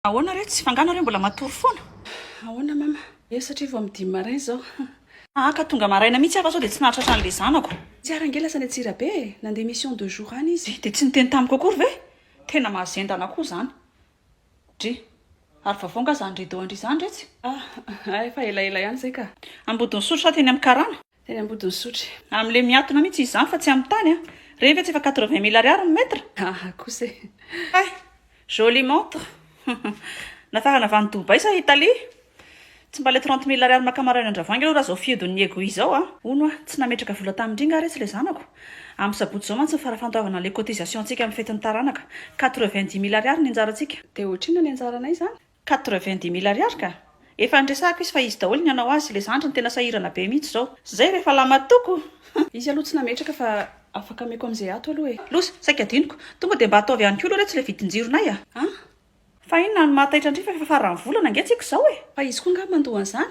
Ahoana re tsy fangana re mbola matory foana? Ahoana mama? Eo satria vao amin'ny dimy marain izao. Aa ka tonga maraina mihitsy aho fa sao dia tsy nahatratra an'ilay zanako. Tsy ary ange lasa any Antsirabe e! Nandeha mission deux jours any izy. Dia tsy niteny tamiko akory ve? Tena mahazendana koa izany. Dry, ary vaovao nga izany rideau an-dry izany re tsy? Ah, efa elaela ihany izay ka. Ambodin'Isotry sa teny amin'ny karana? Teny Ambodin'isotry. Am le miatona mitsy izy zany fa tsy am tany a! Reny ve tsy efa quatre vingt mille ariary ny mètre? Aha kosa e! Hay! Jolie montre! Nafarana avy any Dubaï sa Italie? Tsy mba le trente mille ariary maka maraina an-dravoaingy aloha raha zao fihodin'ny Ego izao a! Hono oa, tsy nametraka vola tamindry nga re tsy le zanako? Am sabotsy zao mantsy ny farafantoavana le cotisation-tsika am fetin'ny taranaka. Quatre vingt dix mille ariary ny anjarantsika. De ohatr'inona ny anjaranay zany? Quatre-vingt-dix mille ariary ka! Efa niresahako izy fa izy daholo ny hanao azy, ilay zandriny tena sahirana be mihitsy izao. Zay rehefa lamatoko! Izy aloha tsy nametraka fa afaka ameko amin'izay ato aloha e! Loza, saika adinoko! Tonga dia mba ataovy ihany koa aloha re tsy ilay vidin-jironay a! An? Fa inona no maha taitra an-dry fa efa faran'ny volana ange tsika izao e! Fa izy koa angaha mandoa an'izany?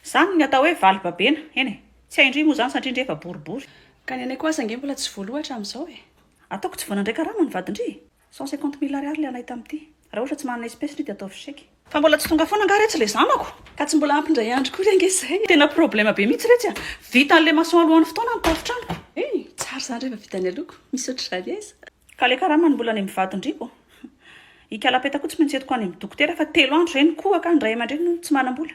Izany ny atao hoe vali-babena, eny e! Tsy hain-dry moa izany satria ndry efa boribory. Ka ny anay koa aza ange mbola tsy voaloa hatramin'izao e! Ataoko tsy vao nandray karama ny vadin-dry e! Cent cinquante mille ariary le anay tamty. Raha ohatra tsy manana espèce le dia ataovy chèque. Fa mbola tsy tonga foana angaha retsy le zanako? Ka tsy mbola ampy indray andro koa re ange izay. Tena problème be mihitsy retsy a! Vitan'ny le maçon alohan'ny fotoana ny tafo tranoko. Hey! Tsara izany rehefa vita ny aloako. Misy ohatr'izany aiza? Ka le karaman'ny mbola any mivadin-driako? Ikala peta koa tsy maintsy entiko any amin'ny dokotera fa telo andro izay ny kohaka, ny ray aman-dreny no tsy manam-bola.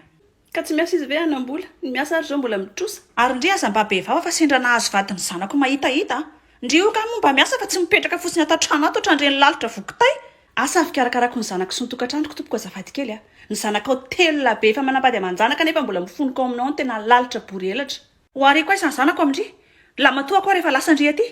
Ka tsy miasa izy ve hanam-bola? Ny miasa ary izao mbola mitrosa. Ary ndry aza mba be vava fa sendra nahazo vady ny zanako mahitahita a! Ndry io kamo mba miasa fa tsy mipetraka fotsiny ato an-trano ato ohatran'ireny lalitra voa kitay! Asa fikarakarako ny zanako sy ny tokantranoko tompoko azafady kely a! Ny zanakao telo lahy be efa manambady aman-janaka nefa mbola mifonoka ao aminao ny tena lalitra bory elatra! Ho hariako aiza ny zanako amin-dry Lamatoa koa rehefa lasan-dry aty?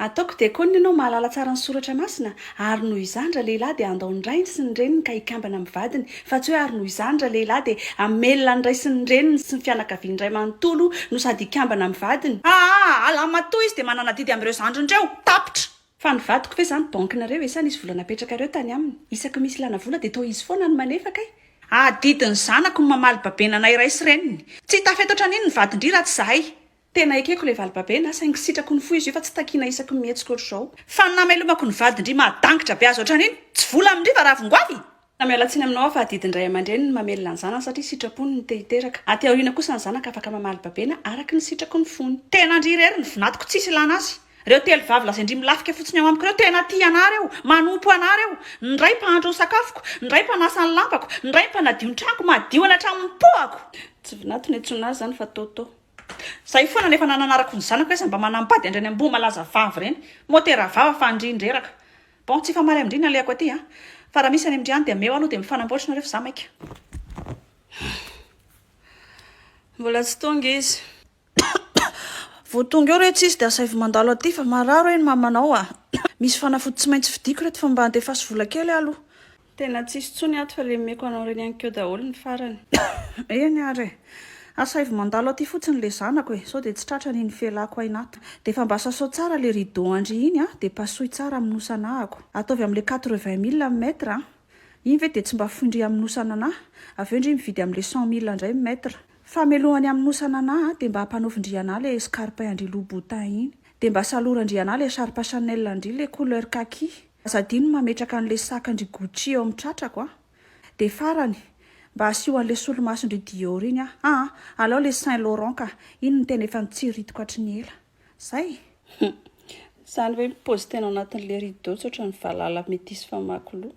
Ataoko dia koa ny anao mahalala tsara ny soratra masina, ary noho izany ralehilahy dia handao ny rainy sy ny reniny ka hikambana amin'ny vadiny, fa tsy hoe ary noho izany ralehilahy dia hamelona ny ray sy ny reniny sy ny fianakaviany iray manontolo no sady hikambana amin'ny vadiny. Aa, Lamatoa izy dia manana adidy amin'ireo zandriny ireo. Tapitra. Fa ny vadiko ve zany banque nareo e sa nisy vola napetrakareo tany aminy? Isaky misy ilana vola de toa izy foana no manefa kay. Adidy ny zanako ny mamaly babenana iray sy reniny. Tsy hitafy eto hatranin ny vadin-dry raha tsy zahay. Tena ekeko ilay valibabenaa, saingy sitrako ny fo izy io fa tsy takiana isaky ny mihetsika ohatr'izao. Fa ny namelomako ny vadin-dry mahadangitra be azy ohatran'iny, tsy vola amin-dry fa ravin-goavy! Ka miala tsiny aminao aho fa adidin'ny ray aman-dreny ny mamelona ny zanany satria sitrapony ny te hiteraka. Aty aoriana kosa ny zanaka afaka mamaly babena araka ny sitraky ny fony. Tena an-dry irery ny vinatiko tsisy ilana azy. Reo telo vavy lazain-dry milafika fotsiny ao amiko reo tena tia anah reo, manompo anah reo. Ny ray mpahandro ny sakafoko, ny ray mpanasa ny lampako, ny ray mpanadio ny tranoko, madio any hatramin'ny pohako. Tsy vinato no iantsoana azy zany fa Toto. Zay foana no efa nananarako ny zanako aiza mba manambady an-dry any amboa malaza vavy reny. Motera vava fa an-dry ny reraka. Bon tsy efa marin amindry ny alehako aty a! Fa raha misy any amindry any dia ameo aloha dia mifanamboatra nareo fa za maika. Mbola tsy tonga izy. Vao tonga eo re tsy izy dia asaivo mandalo aty fa marary hoe ny mamanao a! Misy fanafody tsy maintsy vidiako reto fa mba andefaso vola kely aho aloha. Tena tsisy tsony ato fa le omeko anao reny any keo daholo ny farany. Eny ary e! Asaivo mandalo aty fotsiny le zanako e! Sao dia tsy tratrany iny felako aina ato. Dia efa mba sasao tsara le rideau andry iny a! Dia pasohy tsara amin'ny nos anahako. Ataovy amin'le quatre-vingt mille amin'ny mètre a! Iny ve dia tsy mba fohy ndry amin'ny nos an'anahy? Avy eo ndry mividy amin'le cent mille ndray ny mètre. Famelohany amin'ny nos an'anahy a! Dia mba ampanaovy ndry anahy le escarpin andry Louboutin iny. Dia mba salora ndry anahy le charpe Chanel andry le couleur kaki. Aza adino ny mametraka an'ilay sakan-dry Gucci eo amin'ny tratrako a! Dia farany, mba asio an'ilay solomason-dry Dior iny aho. Aa! Alao ilay Saint Laurent ka! Iny no tena efa nitsiritiko hatry ny ela. Izay! Hum! Izany ve mi-pose tena ao anatin'ilay rideau tsotra ny valala metisy famaky loha?